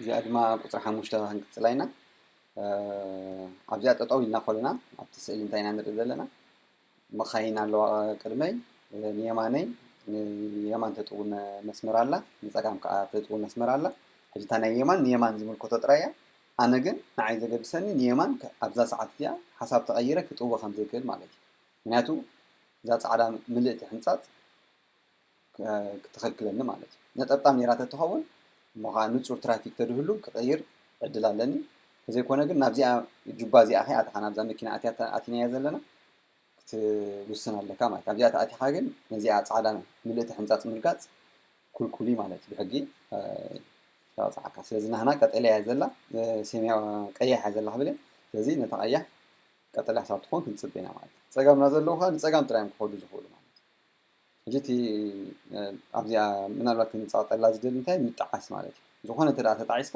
እዚኣ ድማ ቁፅሪ ሓሙሽተ ክንቅፅላ ኢና ኣብዚኣ ጠጠው ኢልና ኮለና ኣብቲ ስእሊ እንታይ ኢና ንርኢ ዘለና መካይን ኣለዋ ቅድመይ ንየማነይ ንየማን ተጥው መስመር ኣላ ንፀጋም ከዓ ተጥው መስመር ኣላ ሕጂ እታ ናይ የማን ንየማን ዝምልከቶ ጥራይ እያ ኣነ ግን ንዓይ ዘገድሰኒ ንየማን ኣብዛ ሰዓት እዚኣ ሓሳብ ተቐይረ ክጥወ ከም ዘይክእል ማለት እዩ ምክንያቱ እዛ ፃዕዳ ምልእቲ ሕንፃፅ ክትኸልክለኒ ማለት እዩ ነጠብጣብ ኔራ ተትኸውን እሞ ኸኣ ንጹር ትራፊክ ተድህሉ ክቕይር ዕድል ኣለኒ ተዘይኮነ ግን ናብዚኣ ጁባ እዚኣ ከይ ኣተኻ ናብዛ መኪና ኣትያ ኣቲናያ ዘለና ክትውስን ኣለካ ማለት ኣብዚኣ ተኣቲኻ ግን ነዚኣ ጻዕዳ ምልእቲ ሕንጻጽ ምርጋጽ ኩልኩል እዩ ማለት ብሕጊ ተቐጽዓካ ስለዚ ናህና ቀጠልያ እያ ዘላ ሰማያ ቀያሕ እያ ዘላ ክብል ስለዚ ነታ ቀያሕ ቀጠልያ ክሳብ ትኾን ክንጽብ ኢና ማለት እዩ ጸጋምና ዘለዉ ከዓ ንጸጋም ጥራዮም ክኸዱ ዝኽእሉ ማለት ሕጂ እቲ ኣብዚኣ ምናልባት ክንጻወጠላ ዝደሊ እንታይ ምጥዓስ ማለት እዩ ዝኾነ እንተ ተጣዒስካ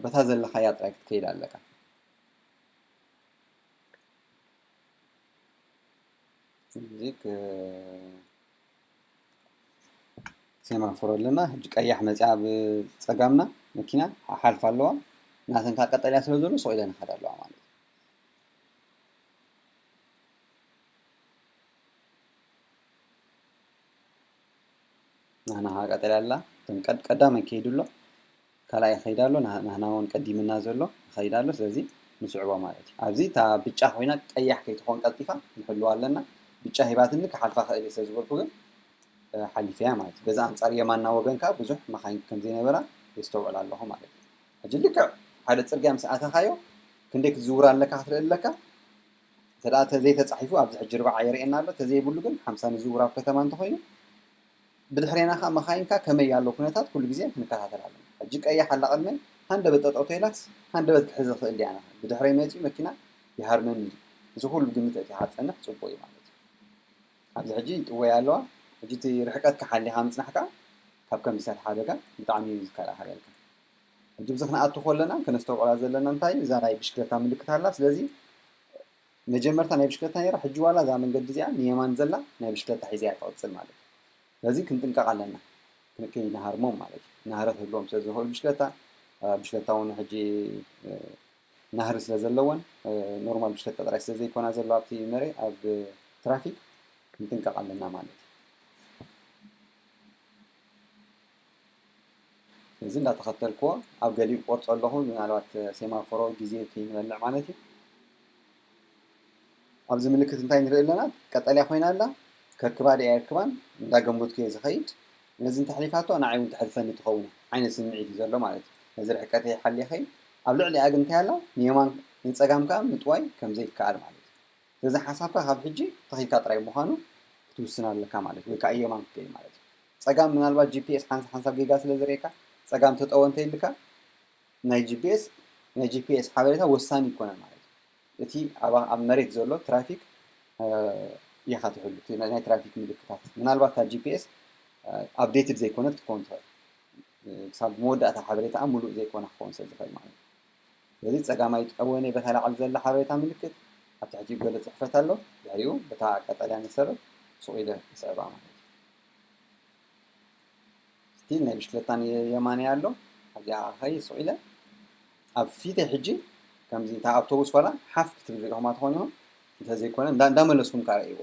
በታ ዘለኻያ ጥራይ ክትከይድ ኣለካ እዚ ሴማፎር ኣለና ሕጂ ቀያሕ መፅያ ኣብ ፀጋምና መኪና ሓልፋ ኣለዋ ናተን ካብ ቀጠልያ ስለ ዘሎ ሱቕ ኢለን ይኸዳ ኣለዋ ማለት እዩ ናህና ከዓ ቀጠልያ ኣላ እቶም ቀድ ቀዳማይ ከይዱ ኣሎ ካልኣይ ይኸይድ ኣሎ ናህ- ናህና እውን ቀዲምና ዘሎ ይኸይድ ኣሎ ስለዚ ንስዕቦ ማለት እዩ ኣብዚ እታ ብጫ ኮይና ቀያሕ ከይትኾን ቀልጢፋ ንሕልዋ ኣለና ብጫ ሂባትኒ ክሓልፋ ክእል እየ ስለዝበልኩ ግን እ፣ ሓሊፈ እያ ማለት እዩ በዚ ኣንጻር የማና ወገን ከዓ ብዙሕ መኻይን ከም ዘይነበራ የስተውዕል ኣለኹ ማለት እዩ ሕጂ ልክዕ ሓደ ጽርግያ ምስ ኣተኻዮ ክንደይ ክትዝውር ኣለካ ክትርኢ ኣለካ እንተ ተዘይተፃሒፉ ኣብዚ ሕጂ ርብዓ የርእየና ኣሎ ተዘይብሉ ግን ሓምሳ ንዝውር ኣብ ከተማ እንተኾይኑ ብድሕሬና ከዓ መኻይንካ ከመይ ያለው ኩነታት ኩሉ ግዜ ክንከታተል ኣለና ሕጂ ቀያሕ ኣላ ቅድመይ ሃንደበት ጠጠው ተይላስ ሃንደበት ክሕዝ ይኽእል ድያ ናኻ ብድሕረይ መፂኡ መኪና ይሃርመኒ እዩ እዚ ኩሉ ግምት እቲ ሓፀንሕ ፅቡቅ እዩ ማለት እዩ ኣብዚ ሕጂ ይጥወያ ኣለዋ ሕጂ እቲ ርሕቀትካ ሓሊኻ ምፅናሕካ ካብ ከምዚታት ሓደጋ ብጣዕሚ እዩ ዝከላኸለልካ ሕጂ ብዚ ክንኣቱ ኮለና ከነስተውዕላ ዘለና እንታይ እዛ ናይ ብሽክለታ ምልክት ኣላ ስለዚ መጀመርታ ናይ ብሽክለታ ነራ ሕጂ ዋላ እዛ መንገዲ እዚኣ ንየማን ዘላ ናይ ብሽክለታ ሒዘያ ትቕጽል ማለት እዩ ስለዚ ክንጥንቀቕ ኣለና ክንከይ ንሃርሞም ማለት እዩ ናህረ ክህልዎም ስለ ዝኽእል ብሽክለታ ብሽክለታ እውን ሕጂ ናህሪ ስለ ዘለወን ኖርማል ብሽክለታ ጥራይ ስለ ዘይኮና ዘሎ ኣብቲ መሬ ኣብ ትራፊክ ክንጥንቀቕ ኣለና ማለት እዩ እዚ እንዳተኸተልክዎ ኣብ ገሊኡ ቆርፆ ኣለኹ ምናልባት ሴማፎሮ ግዜ ከይንበልዕ ማለት እዩ ኣብዚ ምልክት እንታይ ንርኢ ኣለና ቀጠልያ ኮይና ኣላ ከርክባ ድያ የርክባን እንዳገመትኩ እየ ዝኸይድ ነዚ እንተሕሊፋቶ ንዓይ እውን ተሕልፈኒ ትኸውን ዓይነት ስምዒት እዩ ዘሎ ማለት እዩ ነዚ ርሕቀተ ይሓልየ ኸይድ ኣብ ልዕሊኣ ግን እንታይ ኣላ ንየማን ንፀጋም ከዓ ምጥዋይ ከም ዘይከኣል ማለት እዩ ስለዚ ሓሳብካ ካብ ሕጂ ተኺልካ ጥራይ ምዃኑ ክትውስን ኣለካ ማለት እዩ ወይ ከዓ የማን ክትከይድ ማለት እዩ ጸጋም ምናልባት ጂፒኤስ ሓንሳ ሓንሳብ ጌጋ ስለ ዘርእየካ ጸጋም ተጠወ እንተይልካ ናይ ጂፒኤስ ናይ ጂፒኤስ ሓበሬታ ወሳኒ ይኮነን ማለት እዩ እቲ ኣብ መሬት ዘሎ ትራፊክ ኢኻ ትሕሉ እቲ ናይ ትራፊክ ምልክታት ምናልባት እታ ጂፒኤስ ኣብዴትድ ዘይኮነት ክትከውን ትኽእል ክሳብ መወዳእታ ሓበሬታኣ ሙሉእ ዘይኮነ ክኸውን ስለ ዝኽእል ማለት እዩ ስለዚ ጸጋማይ ጠወነ በታ ላዕሊ ዘላ ሓበሬታ ምልክት ኣብ ትሕቲኡ ገለ ጽሕፈት ኣሎ ድሕሪኡ በታ ቀጠልያ መሰረት ሱቕ ኢለ ይስዕባ ማለት እዩ እስቲ ናይ ብሽክለታን የማንያ ኣሎ ኣብዚኣ ከይ ስቕ ኢለ ኣብ ፊተይ ሕጂ ከምዚ እታ ኣውቶቡስ ዋላ ሓፍ ክትብል ሪኢኹማ ትኾኑ ኢኹም እንተዘይኮነ እንዳመለስኩም ከዓ ርእይዎ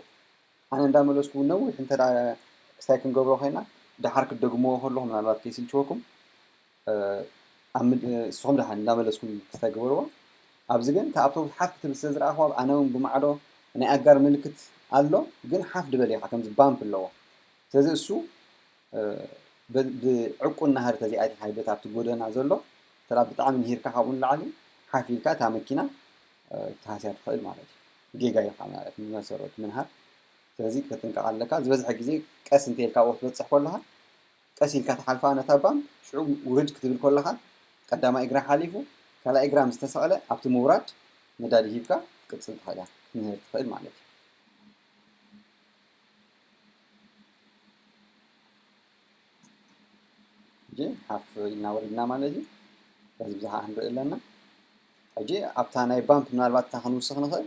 ኣነ እንዳመለስኩ ነዊሕ እንተ ክስታይ ክንገብሮ ኮይና ደሓር ክትደግምዎ ከለኹም ምናልባት ከይስልችወኩም ንስኹም ደሓን እንዳመለስኩም ክስታይ ግበርዎ ኣብዚ ግን እታ ኣብቶብስ ሓፍ ክትብል ስለ ዝረኣኽዋ ኣነ ውን ብማዕዶ ናይ ኣጋር ምልክት ኣሎ ግን ሓፍ ድበል ኢኻ ከምዚ ባምፕ ኣለዎ ስለዚ እሱ ብዕቁን ናህሪ ተዘይ ኣቲኻዮ በቲ ኣብቲ ጎደና ዘሎ እንተ ብጣዕሚ ንሂርካ ካብኡ ንላዕሊ ሓፍ ኢልካ እታ መኪና ክትሃስያ ትኽእል ማለት እዩ ጌጋ ኢኻ ማለት ብመሰረቱ ምንሃር ስለዚ ክትጥንቀቕ ኣለካ ዝበዝሐ ግዜ ቀስ እንተኢልካ ኣብኡ ክትበጽሕ ከለኻ ቀስ ኢልካ ትሓልፋ ነታ ባምፕ ሽዑ ውርድ ክትብል ኮለኻ ቀዳማይ እግራ ሓሊፉ ካልኣይ እግራ ምስ ተሰቕለ ኣብቲ ምውራድ ነዳዲ ሂብካ ክትቅጽል ትኽእል ኢኻ ክትምህር ትኽእል ማለት እዩ። ጂ ሓፍ ኢልና ወሪድና ማለት እዩ። በዚ ብዝሓ ክንርኢ ኣለና። ሕጂ ኣብታ ናይ ባምፕ ምናልባት እታ ክንውስኽ ንኽእል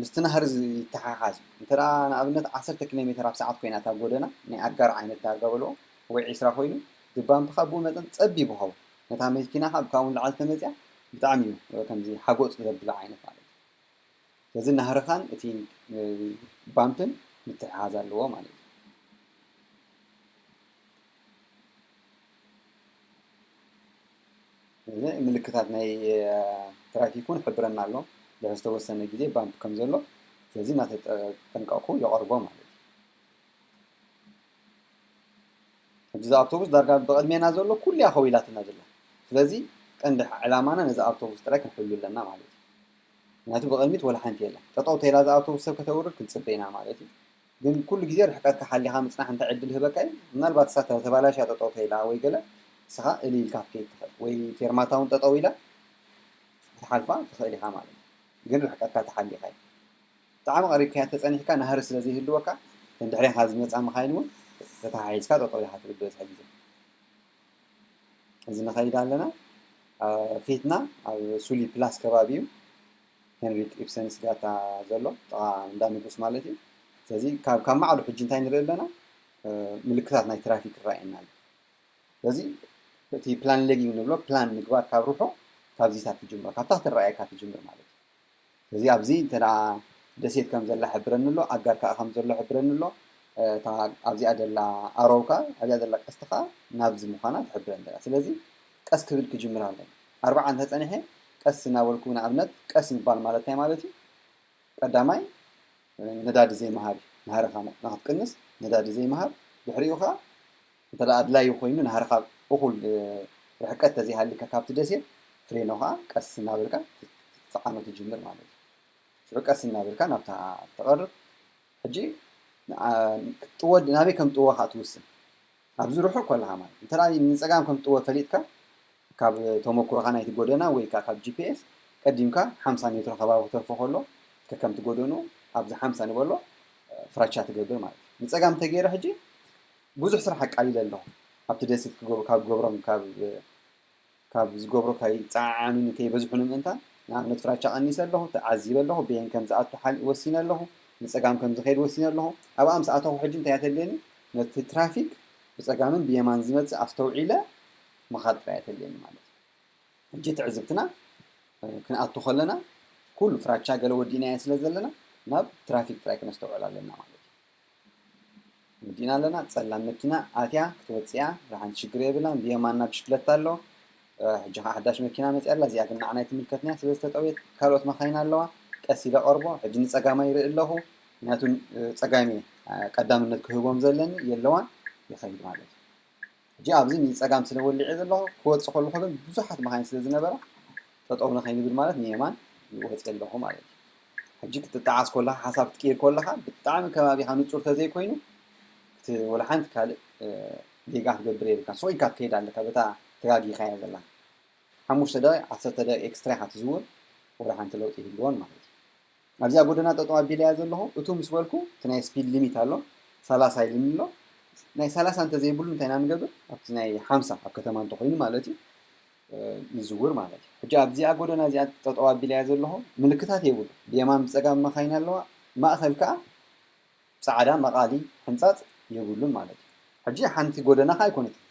ምስቲ ናህሪ ይተሓሓዝ እንተ ንኣብነት ዓሰርተ ኪሎ ሜተር ኣብ ሰዓት ኮይና እታ ጎደና ናይ ኣጋር ዓይነት ዳርጋ በልዎ ወይ ዒስራ ኮይኑ እቲ ባምፕ ካብ ብኡ መጠን ጸቢብ ይኸውን ነታ መኪና ካብ ካብኡ ንላዕሊ ተመጽያ ብጣዕሚ እዩ ከምዚ ሓጎጽ ዘብላ ዓይነት ማለት እዩ ስለዚ ናህርኻን እቲ ባምፕን ምትሕሓዝ ኣለዎ ማለት እዩ እዚ ምልክታት ናይ ትራፊክ እውን ይሕብረና ኣሎ ዝተወሰነ ግዜ ባምፕ ከም ዘሎ ስለዚ እናተጠንቀቕኩ የቐርቦ ማለት እዩ ሕጂ እዛ ኣውቶቡስ ዳርጋ ብቕድሜና ዘሎ ኩሉ እያ ከዊላትና ዘላ ስለዚ ቀንዲ ዕላማና ነዚ ኣውቶቡስ ጥራይ ክንሕሉ ኣለና ማለት እዩ ምክንያቱ ብቕድሚት ወላ ሓንቲ የለን ጠጠው ተይላ እዛ ኣውቶቡስ ሰብ ከተውርድ ክንፅበ ኢና ማለት እዩ ግን ኩሉ ግዜ ርሕቀትካ ሓሊኻ ምጽናሕ እንታይ ዕድል ይህበካ እዩ? ምናልባት እሳ ተባላሽያ ጠጠው ተይላ ወይ ገለ ንስኻ እልይ ኢልካ ክትከይድ ትኽእል ወይ ፌርማታ እውን ጠጠው ኢላ ክትሓልፋ ትኽእል ኢኻ ማለት እዩ። ግን ርሕቀትካ ተሓሊኻ እዩ። ብጣዕሚ ቀሪብካያ እንተጸኒሕካ ናህሪ ስለ ዘይህልወካ እተን ድሕሬኻ ዝመጻ መኻይን እውን ተተሓሒዝካ ጠጠው ኢኻ ትብል ዝበዝሐ ግዜ። እዚ ንኸይድ ኣለና ፊትና ኣብ ሱሊ ፕላስ ከባቢ እዩ። ሄንሪክ ኢብሰን ስጋታ ዘሎ ጥቓ እንዳ ንጉስ ማለት እዩ ስለዚ ካብ ካብ ማዕሉ ሕጂ እንታይ ንርኢ ኣለና ምልክታት ናይ ትራፊክ ይረኣየና ኣሎ ስለዚ እቲ ፕላን ሌጊንግ ንብሎ ፕላን ምግባር ካብ ርሑ ካብዚታት ትጅምሮ ካብታ ክትረኣየካ ትጅምር ማለት እዩ ስለዚ ኣብዚ እንተ ደሴት ከም ዘላ ሕብረኒ ኣሎ ኣጋር ከዓ ከም ዘሎ ሕብረኒ ኣሎ እታ ኣብዚኣ ዘላ ኣሮው ከዓ ኣብዚኣ ዘላ ቀስቲ ከዓ ናብዚ ምዃና ትሕብረኒ ዘላ ስለዚ ቀስ ክብል ክጅምር ኣለኒ ኣርብዓ እንተ ጸኒሐ ቀስ እናበልኩ ንኣብነት ቀስ ምባል ማለት እንታይ ማለት እዩ ቀዳማይ ነዳዲ ዘይምሃብ እዩ ናህርኻ ንክትቅንስ ነዳዲ ዘይምሃብ ድሕሪኡ ከኣ እንተ ኣድላዩ ኮይኑ ናህርኻ እኹል ርሕቀት ተዘይሃሊካ ካብቲ ደሴት ፍሬኖ ከኣ ቀስ እናበልካ ትጸዓኖ ትጅምር ማለት እዩ ሽዑ ቀስ እናበልካ ናብታ ትቐርብ ሕጂ ክትጥወ ናበይ ከም ጥወ ከኣ ትውስን ኣብዚ ርሑቕ ኮለኻ ማለት እዩ። እንተ ንጸጋም ከም ትጥወ ፈሊጥካ፣ ካብ ተመኩሮኻ ናይቲ ጎደና ወይ ከኣ ካብ ጂፒኤስ ቀዲምካ ሓምሳ ሜትሮ ከባቢ ክተርፎ ከሎ ከከምቲ ጎደንኡ ኣብዚ ሓምሳ ንበሎ ፍራቻ ትገብር ማለት እዩ። ንጸጋም እንተ ገይረ ሕጂ ብዙሕ ስራሕ ኣቃሊለ ኣለኹ። ኣብቲ ደሴት ካብ ክገብሮም ካብ ካብ ዝገብሮ ከይጸዓዓኑ ንከይበዝሑ ንምእንታን፣ ንኣብነት ፍራቻ ቀኒሰ ኣለኹ፣ ተዓዚበ ኣለኹ፣ በየን ከም ዝኣቱ ሓል ወሲነ ኣለኹ፣ ንጸጋም ከም ዝኸይድ ወሲነ ኣለኹ፣ ኣብኣ ምስ ኣተኹ ሕጂ እንታይ እያ ተድልየኒ? ነቲ ትራፊክ ብጸጋምን ብየማን ዝመጽእ ኣስተውዒለ ምኻድ ጥራይ እያ ተድልየኒ ማለት እዩ። ሕጂ ትዕዝብትና ክንኣቱ ከለና ኩሉ ፍራቻ ገለ ወዲእናዮ ስለ ዘለና ናብ ትራፊክ ጥራይ ክነስተውዕል ኣለና ማለት እዩ። መጺእና ኣለና ጸላም መኪና ኣትያ ክትወጽእያ ርሓንቲ ሽግር የብላን ብየማና ብሽክለታ ኣሎ ሕጂ ከዓ ሓዳሽ መኪና መጽያ ኣላ እዚኣ ግን ንዓና ኣይትምልከትንያ ስለ ዝተጠውየት ካልኦት መካይን ኣለዋ ቀስ ኢለ ቀርቦ ሕጂ ንጸጋማይ ይርኢ ኣለኹ ምክንያቱ ጸጋሚ ቀዳምነት ክህቦም ዘለኒ የለዋን ይኸይድ ማለት እዩ ሕጂ ኣብዚ ንጸጋም ስለ ወሊዐ ዘለኹ ክወጽእ ከለኹ ግን ብዙሓት መኻይን ስለ ዝነበራ ጠጠው ንኸይንብል ማለት ንየማን ወጽየ ኣለኹ ማለት እዩ። ሕጂ ክትጠዓስ ኮለኻ ሓሳብ ክትቅይር ኮለኻ ብጣዕሚ ከባቢኻ ንጹር ተዘይኮይኑ እቲ ወላ ሓንቲ ካልእ ጌጋ ክትገብር የብልካ ሱቕ ኢልካ ትከይድ ኣለካ በታ ተጋጊኻያ ዘለኻ ሓሙሽተ ደቂቕ ዓሰርተ ደቂቕ ኤክስትራ ኢኻ ትዝውር ወላ ሓንቲ ለውጢ ይህልዎን ማለት እዩ። ኣብዚኣ ጎደና ጠጠው ኣቢለያ ዘለኹ እቱ ምስ በልኩ እቲ ናይ ስፒድ ሊሚት ኣሎ ሰላሳ ኢልኒ ኣሎ ናይ ሰላሳ እንተዘይብሉ እንታይ ኢና ንገብር ኣብቲ ናይ ሓምሳ ኣብ ከተማ እንተኮይኑ ማለት እዩ ንዝውር ማለት እዩ ሕጂ ኣብዚኣ ጎደና እዚኣ ጠጠው ኣቢለያ ዘለኹ ምልክታት የብሉ ብየማን ብፀጋም መካይን ኣለዋ ማእኸል ከዓ ጻዕዳ መቃሊ ሕንጻጽ የብሉን ማለት እዩ ሕጂ ሓንቲ ጎደና ከኣ ኣይኮነትን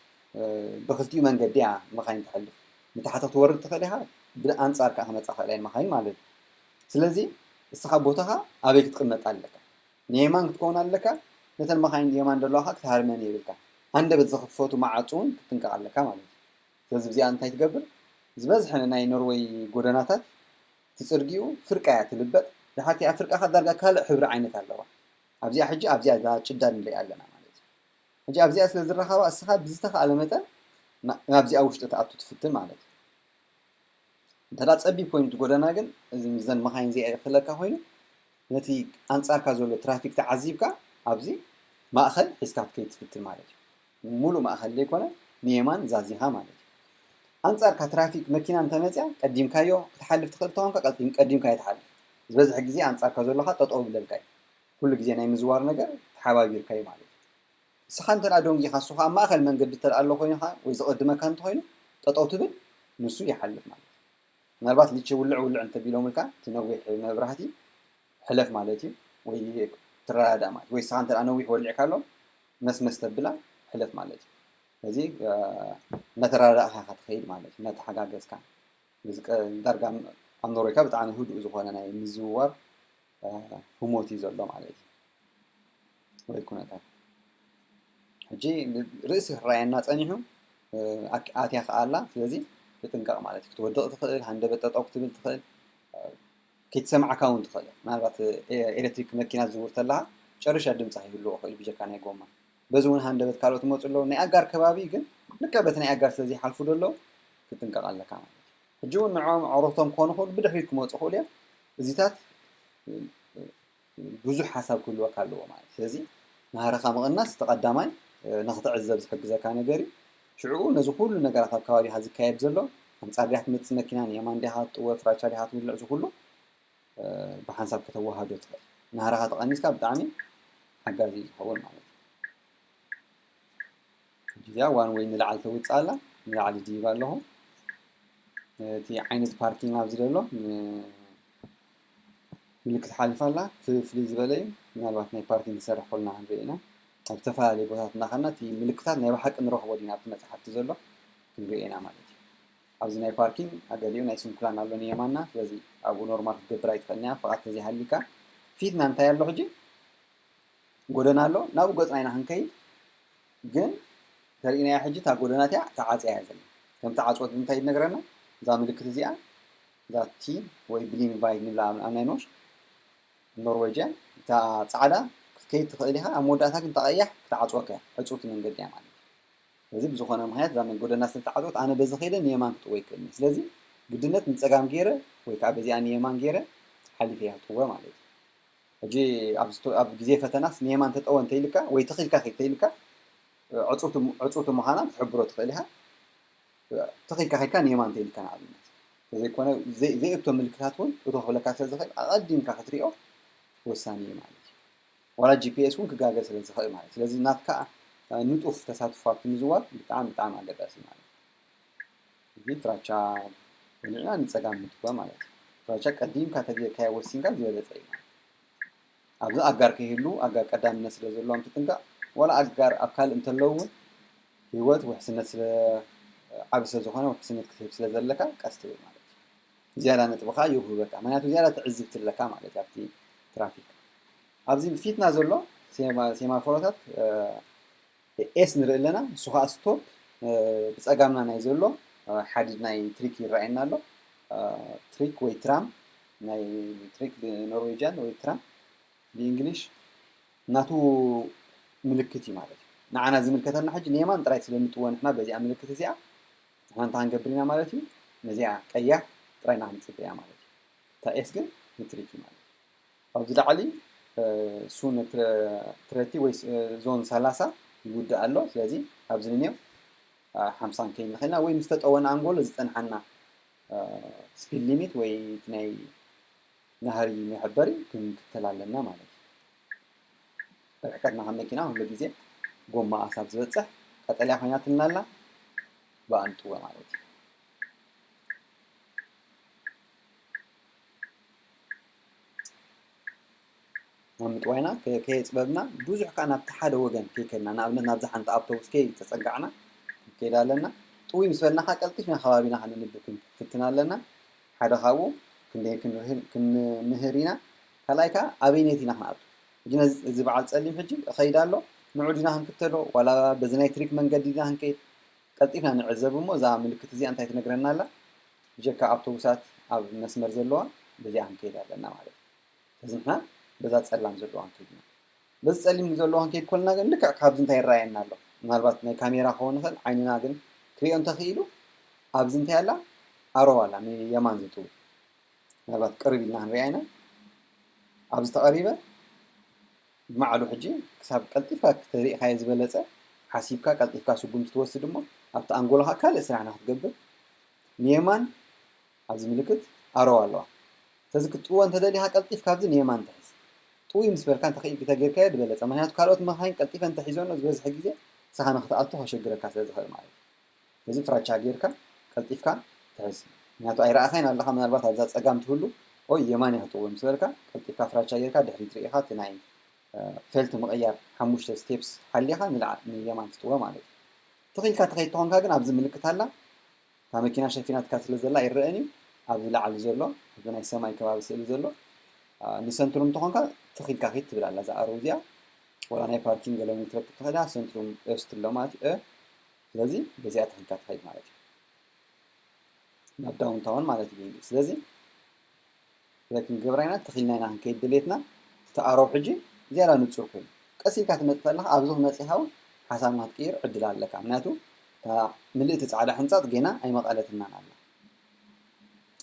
ብክልቲኡ መንገዲ እያ መካይን ትሐልፍ ንታሕቲ ክትወርድ ትክእል ኢካ ብኣንጻር ከኣ ክመጻ ይክእላ እየን መካይን ማለት እዩ ስለዚ እስካ ቦታካ ኣበይ ክትቅመጥ ኣለካ ንየማን ክትከውን ኣለካ ነተን መካይን የማን ዘለዋ ከኣ ክትሃርመን የብልካን ሃንደበት ዝክፈቱ መዓጹ ውን ክትጥንቀቅ ኣለካ ማለት እዩ ስለዚ ብዚኣ እንታይ ትገብር ዝበዝሐ ናይ ኖርወይ ጎደናታት ትጽርግኡ ፍርቃ እያ ትልበጥ ድሓርቲኣ ፍርቃ ከኣ ዳርጋ ካልእ ሕብሪ ዓይነት ኣለዋ ኣብዚኣ ሕጂ ኣብዚኣ እዛ ጭዳ ንርእያ ኣለና ማለት እዩ ሕጂ ኣብዚኣ ስለ ዝራኸባ እስኻ ብዝተኻእለ መጠን ናብዚኣ ውሽጢ ትኣቱ ትፍትን ማለት እዩ እንተ ጸቢብ ኮይኑ እቲ ጎደና ግን እዚ ምስዘን መኻይን እዚኣ ይኽለካ ኮይኑ ነቲ ኣንጻርካ ዘሎ ትራፊክ ተዓዚብካ ኣብዚ ማእኸል ሒዝካ ክትከይድ ትፍትን ማለት እዩ ሙሉእ ማእኸል ዘይኮነ ንየማን ዛዚኻ ማለት እዩ። ኣንፃርካ ትራፊክ መኪና እንተመፅያ ቀዲምካዮ ክትሓልፍ ትኽእል እንተኾንካ ቀዲምካዮ ትሓልፍ። ዝበዝሐ ግዜ ኣንፃርካ ዘሎኻ ጠጠው ይብለልካ እዩ። ኩሉ ግዜ ናይ ምዝዋር ነገር ተሓባቢርካ እዩ ማለት እዩ። ንስኻ እንተድኣ ዶንጊኻ ንሱ ከዓ ኣብ ማእኸል መንገዲ እንተድኣ ኣሎ ኮይንኻ ወይ ዝቕድመካ እንተኾይኑ ጠጠው ትብል ንሱ ይሓልፍ ማለት እዩ። ምናልባት ሊቸ ውልዕ ውልዕ እንተቢሎምልካ እቲ ነዊሕ መብራህቲ ሕለፍ ማለት እዩ ወይ ትረዳዳእ ማለት እዩ ወይ ንስኻ እንተ ነዊሕ ወሊዕካሎም መስመስ ተብላ ሕለፍ ማለት እዩ ስለዚ እናተረዳዳእኻ ኢኻ ትኸይድ ማለት እዩ እናተሓጋገዝካ እዚ ዳርጋ ኣብ ኖርዌይካ ብጣዕሚ ህዱእ ዝኾነ ናይ ምዝውዋር ህሞት እዩ ዘሎ ማለት እዩ ወይ ኩነታት ሕጂ ርእሲ ክረኣየና ጸኒሑ ኣትያ ከኣላ ስለዚ ትጥንቀቕ ማለት እዩ ክትወድቕ ትኽእል ሃንደበት ጠጠው ክትብል ትኽእል ከይትሰምዓካ ውን ትኽእል እያ ምናልባት ኤለትሪክ መኪና ትዝውር ተለኻ ጨሪሻ ድምጺ ከይህልዎ ክእል እዩ ብጀካ ናይ ጎማ በዚ ውን ሃንደበት ካልኦት ይመጹ ኣለዉ ናይ ኣጋር ከባቢ ግን ልክዕ በቲ ናይ ኣጋር ስለ ዘይሓልፉ ዶ ኣለዉ ክትጥንቀቅ ኣለካ ማለት እዩ ሕጂ ውን ንዕኦም ኣዕሩኽቶም ክኾኑ ክእሉ ብድሕሪት ክመጹ ክእሉ እዮም እዚታት ብዙሕ ሓሳብ ክህልወካ ኣለዎ ማለት እዩ። ስለዚ ናህርኻ ምቕናስ እቲ ቀዳማይ ንኽትዕዘብ ዝሕግዘካ ነገር እዩ። ሽዕኡ ነዚ ኩሉ ነገራት ኣብ ከባቢኻ ዝካየድ ዘሎ ኣንጻር ድያ ትመጽእ መኪና ንየማን ድኻ ክትጥወ ፍራቻ ድኻ ትውልዕ እዚ ኩሉ ብሓንሳብ ከተወሃዶ ትኽእል። ናህርኻ ተቐኒስካ ብጣዕሚ ሓጋዚ እዩ ዝኸውን ማለት እዩ። ሕጂ እዚኣ ዋን ወይ ንላዕሊ ተውጽእ ኣላ ንላዕሊ ድይብ ኣለኹ እቲ ዓይነት ፓርኪንግ ኣብዚ ዘሎ ምልክት ሓሊፋ ኣላ ፍልይ ዝበለ እዩ ምናልባት ናይ ፓርኪንግ ዝሰርሕ ኮለና ክንሪኦ ኢና ኣብ ዝተፈላለዩ ቦታታት እናኸድና እቲ ምልክታት ናይ ብሓቂ ንረኽቦ ዲና ኣብቲ መፅሓፍቲ ዘሎ ክንሪኦ ኢና ማለት እዩ ኣብዚ ናይ ፓርኪንግ ኣገሊኡ ናይ ስንኩላን ኣሎ ንየማና ስለዚ ኣብኡ ኖርማል ክትገብር ኣይትኽእልንያ ፍቓድ ተዘይሃሊካ ፊትና እንታይ ኣሎ ሕጂ ጎደና ኣሎ ናብኡ ገፅና ኢና ክንከይድ ግን ተርእናያ ሕጂ እታ ጎደና እቲኣ ተዓፅያ እያ ዘላ ከምቲ ዓፅወት ብምንታይ ይነግረና እዛ ምልክት እዚኣ ዛቲ ወይ ብሊንግ ቫይግ ንብላ ኣናይኖሽ ኖርወጅያን እታ ጻዕዳ ክትከይድ ትኽእል ኢኻ ኣብ መወዳእታ ግን እታ ቀያሕ ክትዓጽወካ እያ ዕጽውቲ መንገዲ እያ ማለት ስለዚ ብዝኾነ ምኽንያት እዛ ጎደና ስለ ዝተዓጽወት ኣነ በዚ ከይደ ንየማን ክጥወ ይክእል እየ ስለዚ ግድነት ንጸጋም ገይረ ወይ ከዓ በዚኣ ንየማን ገይረ ሓሊፈ እየ ክጥወ ማለት እዩ ሕጂ ኣብ ግዜ ፈተናስ ንየማን ተጠወ እንተይልካ ወይ ትኺልካ ከይተይልካ ዕጹውቲ ዕጹውቲ ምዃና ክትሕብሮ ትኽእል ኢኻ ተኺኢልካ ኬድካ ንየማን እንተ ኢልካ ንኣብነት ተዘይኮነ ዘይእቶ ምልክታት እውን እቶ ክብለካ ስለ ዝኽእል ኣቐዲምካ ክትሪኦ ወሳኒ እዩ ማለት እዩ ዋላ ጂፒኤስ እውን ክጋገ ስለ ዝኽእል ማለት ስለዚ ናትካ ንጡፍ ተሳትፎ ኣብቲ ምዝዋር ብጣዕሚ ብጣዕሚ ኣገዳሲ ማለት እዚ ፍራቻ በሊዕና ንፀጋም ምድጓ ማለት እዩ ፍራቻ ቀዲምካ ተጌርካዮ ወሲንካ ዝበለፀ እዩ ኣብዚ ኣጋር ከይህልዉ ኣጋር ቀዳምነት ስለ ዘለዎም ትጥንቀቕ ዋላ ኣጋር ኣብ ካልእ እንተለዉ እውን ህይወት ውሕስነት ስለ ዓቢ ስለ ዝኾነ ውሕስነት ክትህብ ስለ ዘለካ ቀስ ትብል ማለት እዩ ዝያዳ ነጥቢ ከዓ ይውህበካ ምክንያቱ ዝያዳ ትዕዝብቲ ኣለካ ማለት እዩ ኣብቲ ትራፊክ ኣብዚ ፊትና ዘሎ ሴማፎሮታት ኤስ ንርኢ ኣለና ንሱ ከኣ ስቶፕ ብጸጋምና ናይ ዘሎ ሓዲድ ናይ ትሪክ ይረኣየና ኣሎ ትሪክ ወይ ትራም ናይ ትሪክ ብኖርዌጅያን ወይ ትራም ብእንግሊሽ ናቱ ምልክት እዩ ማለት እዩ ንዓና ዝምልከተና ሕጂ ንየማን ጥራይ ስለንጥዎ ንሕና በዚኣ ምልክት እዚኣ ንሕና እንታይ ክንገብር ኢና ማለት እዩ ነዚኣ ቀያሕ ጥራይ ኢና ክንጽበያ ማለት እዩ እታ ኤስ ግን ንትሪክ እዩ ማለት እዩ ኣብዚ ላዕሊ ሱን ትረቲ ወይ ዞን ሰላሳ ይውድእ ኣሎ ስለዚ ኣብዚ ንኔው ሓምሳን ከይድ ንኽእልና ወይ ምስ ተጠወና ኣንጎሎ ዝፀንሓና ስፒድ ሊሚት ወይ እቲ ናይ ናህሪ መሕበሪ ክንክተል ኣለና ማለት እዩ ርሕቀትና ካብ መኪና ኩሉ ግዜ ጎማ ኣሳብ ዝበፅሕ ቀጠልያ ኮይናትና ኣላ ብኣንጥወ ማለት እዩ ናብ ምጥዋይና ከየፅበብና ብዙሕ ከዓ ናብቲ ሓደ ወገን ከይከድና ንኣብነት ናብዚ ሓንቲ ኣብቶቡስ ከይተፀጋዕና ክንከይድ ኣለና ጥውይ ምስ በልና ከዓ ቀልጢፍና ከባቢና ከነንብብ ክንፍትን ኣለና ሓደ ካብኡ ክንደይ ክንምህር ኢና ካልኣይ ከዓ ኣበይነት ኢና ክንኣቱ ሕጂ ነዚ እዚ በዓል ፀሊም ሕጂ እኸይድ ኣሎ ንዑ ዲና ክንክተሎ ዋላ በዚ ናይ ትሪክ መንገዲ ዲና ክንከይድ ቀልጢፍና ንዕዘብ እሞ እዛ ምልክት እዚኣ እንታይ ትነግረና ኣላ? ብጀካ ኣብቶቡሳት ኣብ መስመር ዘለዋ በዚኣ ክንከይድ ኣለና ማለት እዩ። ስለዚ ንሕና በዛ ጸላም ዘለዋ ንከይድ ኢና። በዚ ጸሊም ዘለዋ ክንከይድ ኮለና ግን ልክዕ ካብዚ እንታይ ይረኣየና ኣሎ? ምናልባት ናይ ካሜራ ክኸውን ይኽእል ዓይንና ግን ክርእዮ እንተኽኢሉ ኣብዚ እንታይ ኣላ ኣሮው ኣላ ንየማን ዝጥውት ምናልባት ቅርብ ኢልና ክንሪኣ ኢና። ኣብዚ ተቐሪበ ንባዕሉ ሕጂ ክሳብ ቀልጢፍካ ተሪእኻዮ ዝበለጸ ሓሲብካ ቀልጢፍካ ስጉምቲ ትወስድ እሞ ኣብቲ ኣንጎሎኻ ካልእ ስራሕ ንክትገብር ንየማን ኣብዚ ምልክት ኣሮው ኣለዋ ስለዚ ክትጥውዎ እንተደሊኻ ቀልጢፍካ ኣብዚ ንየማን ትሕዝ ጥውይ ምስ በልካ እንተኺኢል ግተጌርካዮ ድበለጸ ምክንያቱ ካልኦት መኻኺን ቀልጢፈን እንተሒዞኖ ዝበዝሐ ግዜ ንስኻ ንክትኣቱ ከሸግረካ ስለዝኽእል ማለት እዩ። ስለዚ ፍራቻ ጌርካ ቀልጢፍካ ትሕዝ ምክንያቱ ኣይረኣኻይን ኣለኻ ምናልባት ኣብዛ ጸጋም ትህሉ ኦይ የማን እያ ክትቅውም ምስ በልካ ቀልጢፍካ ፍራቻ ጌርካ ድሕሪት ርኢኻ እቲ ናይ ፌልት ምቕያር ሓሙሽተ ስቴፕስ ሓሊኻ ንላዕ ንየማን ትጥወ ማለት እዩ ትኽ ኢልካ ትኸይድ ተኾንካ ግን ኣብዚ ምልክት ኣላ እታ መኪና ሸፊናትካ ስለ ዘላ ኣይረአን እዩ ኣብዚ ላዕሊ ዘሎ ኣብዚ ናይ ሰማይ ከባቢ ስእሊ ዘሎ ንሰንትሩም ተኾንካ ትኽ ኢልካ ኺድ ትብል ኣላ እዛ ኣሮ እዚኣ ወላ ናይ ፓርኪንግ ገለ ውን ክትረክብ ትኽእል እያ ሰንትሩም ኦስትሎ ማለት እዩ ስለዚ በዚኣ ተኺልካ ትኸይድ ማለት እዩ ናብ ዳውንታውን ማለት እዩ ብእንግሊዝ ስለዚ ስለዚ ክንገብራ ኢና ተኺልና ኢና ክንከይድ ድሌትና እቲ ኣሮብ ሕጂ ዝያዳ ንፁር ኮይኑ ቀስ ኢልካ ትመፅእ ከለካ ኣብዚ ክመፅእ ሃውን ሓሳብ ንክትቅይር ዕድል ኣለካ ምክንያቱ እታ ምልእቲ ፃዕዳ ሕንፃፅ ጌና ኣይመቐለትናን ኣላ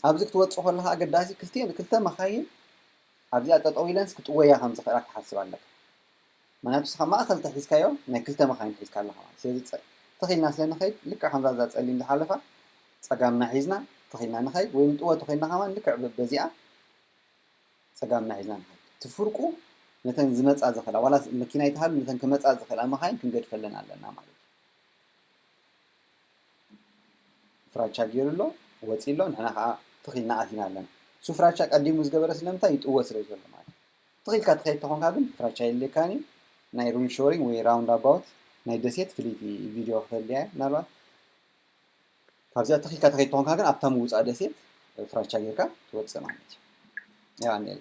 ኣብዚ ክትወፅእ ከለካ ኣገዳሲ ክልተ ክልተ መካይን ኣብዚኣ ጠጠው ኢለንስ ክጥወያ ከም ዝኽእላ ክትሓስብ ኣለካ ምኽንያቱ ንስኻ ማእኸል ተሒዝካዮ ናይ ክልተ መኻይን ሒዝካ ኣለኻ ማለት ስለዚ ፀ ትኽ ኢልና ስለ ንኸይድ ልክዕ ከምዛ እዛ ፀሊም ዝሓለፋ ፀጋምና ሒዝና ትኽ ኢልና ንኸይድ ወይ ንጥወ ትኽ ኢልና ከማን ልክዕ በበዚኣ ፀጋምና ሒዝና ንኸይድ እቲ ፍርቁ ነተን ዝመፃ ዝኽእላ ዋላ መኪና ይትሃሉ ነተን ክመፃ ዝኽእላ መኻይን ክንገድፈለን ኣለና ማለት እዩ ፍራቻ ገይሩ ኣሎ ወፂ ኣሎ ንሕና ከዓ ትኽ ኢልና ኣቲና ኣለና እሱ ፍራቻ ቀዲሙ ዝገበረ ስለምንታይ ይጥወ ስለ ዘሎ ማለት ትኽ ኢልካ ትኸይድ ተኾንካ ግን ፍራቻ የድልየካን እዩ ናይ ሩም ሾሪንግ ወይ ራውንድ ኣባውት ናይ ደሴት ፍልይቲ ቪድዮ ክተድልያ እያ ምናልባት ካብዚኣ ትኽ ኢልካ ትኸይድ ተኾንካ ግን ኣብታ ምውፃእ ደሴት ፍራቻ ጌርካ ትወፅእ ማለት እዩ ያው ኣንዴላ